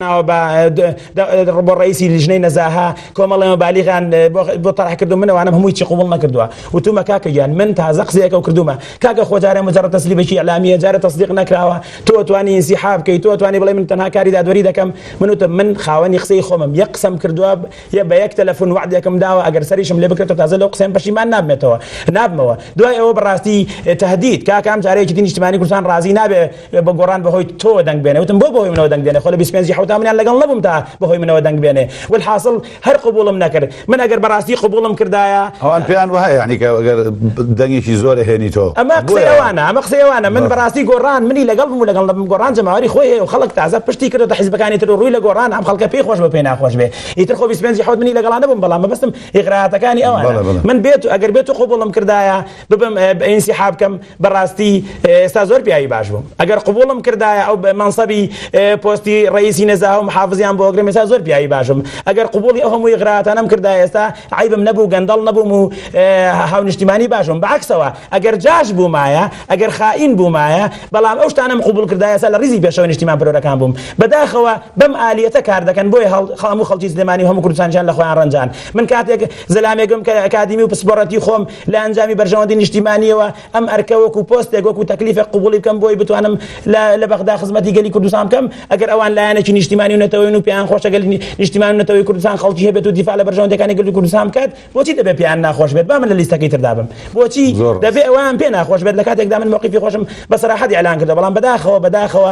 ناوە بە ڕبۆ ڕئیسی لیژنەی نەزاهە کۆمەڵێمە بالیغان بۆ تەڕح کردو منەوانم هەمووی چی قوبڵ نەکردووە وتومە کاکە گیان من تازە قسەیەکە و کردومە کاکە خۆجارە مجرد تەسلیبێکی ئیلامیە جارە تەسدیق نەکراوە تۆ توانی انسحاب بکەی تۆ توانی بڵێ من تەنها کاری دادوەری دەکەم من وتم من خاوەنی قسەی خۆمم یەک قسەم کردووە یە بە یەک تەلەفۆن وعدێکم داوە ئەگەر سەریشم لێ بکرێتەوە تازە لەو قسەم پەشیمان نابمێتەوە نابمەوە دوای ئەوە بەڕاستی تهدید کاکە ئەم جارەیەکی دی نیشتمانی کوردستان ڕازی نابێ وێ بە گۆڕان بەهۆی تۆوە دەنگ بێنێ وتم بۆ بەهۆی منەوە دەنگ دێنێ خۆ لە بیست و پێنجی حەوتا منیان لەگەڵ نەبووم تا بەهۆی منەوە دەنگ بێنێ والحاصل هەر قبوڵم نەکرد من ئەگەر بەڕاستی قبوڵم کردایە ئەوان پێیان وایە یانی کە ئەگەر دەنگێکی زۆر ئەهێنیتۆ ئەمە قسەی ئەوانە ئەمە قسەی ئەوانە من بەڕاستی گۆڕان منی لەگەڵ بوو لەگەڵ نەبم گۆڕان جەماوەری خۆی هەیە و خەڵک تازە پشتی کردۆتە حیزبەکانی تر و ڕووی لە گۆڕان ئەم خەڵکە پێی خۆش بە پێی ناخۆش بێ ئیتر خۆ بیست و پێنجی حەوت منی لەگەڵا نەبووم بەڵام مەبەستم ئیغراءاتەکانی ئەوانە من بێت ئەگەر بێت و قبوڵم کردایە ببم ئینسیحاب کەم بەڕاستی ئێستا زۆر پیاوی باش بووم ئەگەر قوبوڵم کردایە ئەو بە مەنسەبی پۆستی ڕئیسی نەزاوە محافزیان بۆ ئەگرم ئێستا زۆر پیاوی باشم ئەگەر قوبوڵی ئەو هەمووی غراتانەم کردا ئێستا عیبم نەبوو گەندەڵ نەبووم و هاونیشتیمانی باشم بەعکسەوە ئەگەر جاش بوومایە ئەگەر خائین بوومایە بەڵام ئەو شتانەم قوبول کردایە ئێستا لە ڕیزی پێشەوە نیشتیمان پرۆرەکان بووم بەداخەوە بەم ئالیەتە کار دەکەن بۆیە هەڵ هەموو خەڵکی سلێمانی و هەموو کوردستانیان لە خۆیان ڕەنجان من کاتێک زەلامێکم کە ئەکادیمی و پسپۆڕەتی خۆم لە ئەنجامی بەرژەوەندی نیشتیمانییەوە ئەم ئەرکە وەکو پۆستێک وەکو تەکلیفێک قبوڵی بکەم بۆی بتوانم لە بەغدا خزمەتی گەلی کوردستان بکەم ئەگەر ئەوان لایەنێکی نیشتیمانی و نەتەوەین و پێیان خۆشە گەل نیشتیمان و نەتەوەی کوردستان خەڵکی هەبێت و دیفاع لە بەرژەوەندەکانی گەلی کوردستان بکات بۆچی دەبێت پێیان ناخۆش بێت با من لە لیستەکەی تردا بم بۆچی دەبێت ئەوان پێ ناخۆش بێت لە کاتێکدا من موقیفی خۆشم بە سەراحەت ئیعلان کردەوە بەڵام بەداخەوە بەداخەوە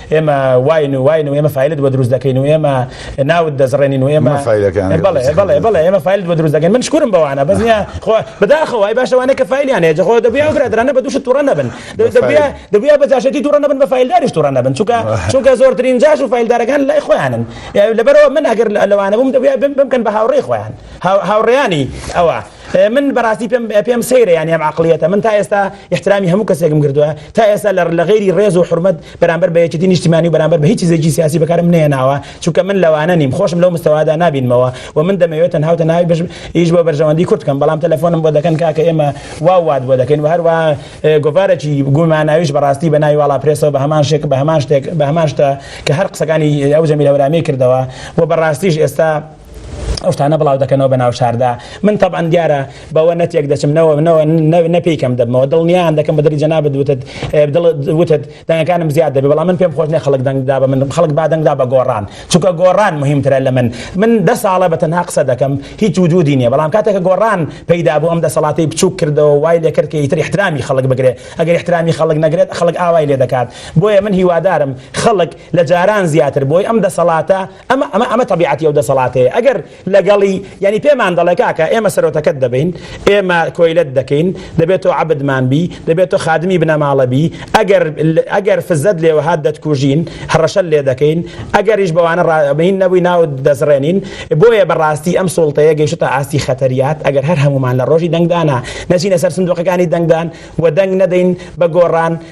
ئێمە واین و واین و ئێمە فیلت بۆ دروست دەکەین و ئێمە ناوت دەزڕێنین و ئێمە ئێمە فیلت بۆ دروست دەکەین من شکرم بەوانە بەزنیا خۆ بەداخەوەی باشەوانە کە فیلیان هەیە خۆ دەبیا برادرانە بە دوش توڕە نەبن دەبیا بە جاشێتی توڕە نەبن بە فیلداریش توڕە نەبن چونکە چونکە زۆرترین جاش و فیلدارەکان لای خۆیانن لەبەرەوە من ئەگەر لەوانە بووم دەبیا بم بکەن بە هاوڕێ خۆیان هاوڕیانی ئەوە من بەراستی پێم پێم سەیرە یانی ئەم عقلیەتە من تا ئێستا احترامی هەموو کەسێکم کردووە تا ئێستا لە لە غیری ڕێز و حرمەت بەرامبەر بە یەکێتی نیشتیمانی و بەرامبەر بە هیچ چیزێکی سیاسی بەکارم نێناوە چونکە من لەوانە نیم خۆشم لەو مستەوادا نابینمەوە و من دەمەوێت تەنها و تەنها بژم ئیش بۆ بەرژەوەندی کورد کەم بەڵام تەلەفۆنم بۆ دەکەن کاکە ئێمە وا وات بۆ دەکەین و هەروە گۆڤارێکی گوماناویش بەڕاستی بە ناوی واڵا پرێسەوە بە هەمان شێک بە هەمان شتێک بە هەمان شتە کە هەر قسەکانی ئەو جەمیل هەورامی کردەوە و بەڕاستیش ئێستا ئەو شتانە بڵاو دەکەنەوە بە ناوشاردا من تەبان دیارە بەوە نەتێک دەچم نەوە نەوە نەپیکەم دەبمەوە دڵنیان دەکەم بەدەری جەنابت وتت وتت دەنگەکانم زیاد دەبێ بەڵام من پێم خۆش نێ خەڵک دەنگدا بە من خەڵک با دەنگدا بە گۆڕان چونکە گۆڕان مهمترە لە من من دە ساڵە بە تەنها قسە دەکەم هیچ وجودی نییە بەڵام کاتێکە گۆڕان پەیدا بوو ئەم دەسەڵاتی بچوک کردەوە وای لێ کرد کە ئیتر احترامی خەڵک بگرێ ئەگەر احترامی خەڵک نەگرێت خەڵک ئاوای لێ دەکات بۆیە من هیوادارم خەڵک لە جاران زیاتر بۆی ئەم دەسەڵاتە ئەمە ئەمە ئەمە تەبیعەتی ئەو دەسەڵاتەیە ئەگەر لەگەڵی یانی پێمان دەڵێ کاکە ئێمە سەرۆتەکەت دەبین ئێمە کۆیلەت دەکەین دەبێت تۆ عەبدمان بی دەبێت تۆ خادمی بنەماڵە بی ئەگەر ئەگەر فزەت لێوە هات دەتکوژین هەڕەشە لێ دەکەین ئەگەریش بەوانە ڕابین نەبووی ناو دەزڕێنین بۆیە بەڕاستی ئەم سوڵتەیە گەیشتە ئاستی خەتەریات ئەگەر هەر هەمومان لە ڕۆژی دەنگدانا نەچینە سەر سندوقەکانی دەنگدان و دەنگ نەدەین بە گۆڕان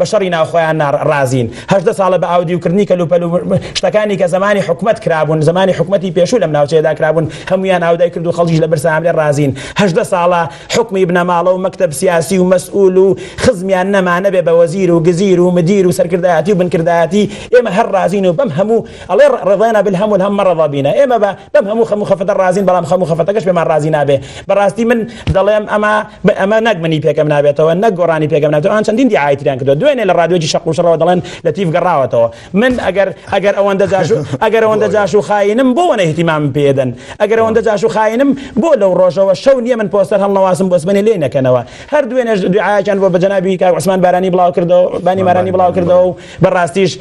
بە شەڕی ناوخۆیان نا ڕازین هەژدە ساڵە بە ئاودیو کردنی کەلوپەل و شتەکانی کە زەمانی حکومەت کرابوون زەمانی حکومەتی پێشوو لەم ناوچەیەدا کرابوون هەمویان ئاودای کرد و خەڵکیش لە برسا هەملێ ڕازین هەژدە ساڵە حکومی بنەماڵە و مەکتەب سیاسی و مەسئول و خزمیان نەما نەبێ بە وەزیر و گزیر و مدیر و سەرکردایەتی و بنکردایەتی ئێمە هەر ڕازین و بەم هەموو ئەڵێ ڕضینا بالهم والهم ما رضا بنا ئێمە بە بەم هەموو خەم و خەفەتە ڕازین بەڵام خەم و خەفەتەکەش پێمان ڕازی نابێ بەڕاستی من دەڵێم ئەمە بە ئەمە نەک منی پێکەم نابێتەوە نەک گۆرانی پێکەم نابێتەوە ئەوان چەندین دیعای تریان کردووە دوێنێ لە ڕادیۆی شەق و شڕەوە دەڵێن لەتیف گەڕاوەتەوە من ئەگەر ئەگەر ئەوەندە جاش و ئەگەر ئەوەندە جاش و خاینم بۆ وەنە اهتمامم پێ دەن ئەگەر ئەوەندە جاش و خاینم بۆ لەو ڕۆژەوە شەو نییە من پۆستەر هەڵنەواسم بۆ سبەینێ لێی نەکەنەوە هەر دوێنێش دیعایەکیان بۆ بە جەنابی کاک عوسمان بارانی بڵاو کردەوە بانی مارانی بڵاو کردەوە و بەڕاستیش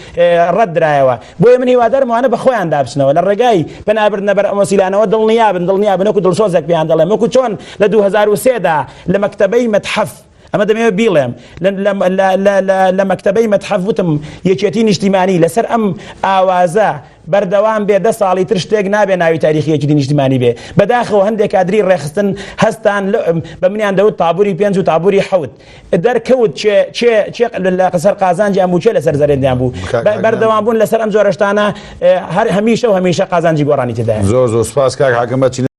ڕەت درایەوە بۆیە من هیوادارم ئەوانە بەخۆیاندا بچنەوە لە ڕێگای پەنابردنە بەر ئەم وەسیلانەوە دڵنیابن دڵنیابن وەکو دڵسۆزێک پێیان دەڵێم وەکو چۆن لە دوو هەزار و سێ دا لە مەکتەبەی مەتحەف ئەمە دەمەوێت بیڵێم لە مەکتەبەی مەتحەف وتم یەکێتی نیشتیمانی لەسەر ئەم ئاوازە بەردەوام بێ دە ساڵی تر شتێک نابێ ناوی تاریخی یەکێتی نیشتیمانی بێ بەداخەوە هەندێک کادری ڕێخستن هەستان بە منیان دەوت تابوری پێنج و تابوری حەوت دەرکەوت چێ چێ چێ لە قەسەر قازانجیان بوو چێ لەسەر زەرێندیان بوو بەردەوام بوون لەسەر ئەم جۆرەشتانە هەر هەمیشە و هەمیشە قازانجی گۆڕانی تێدا زۆر زۆر سپاس کاک حاکم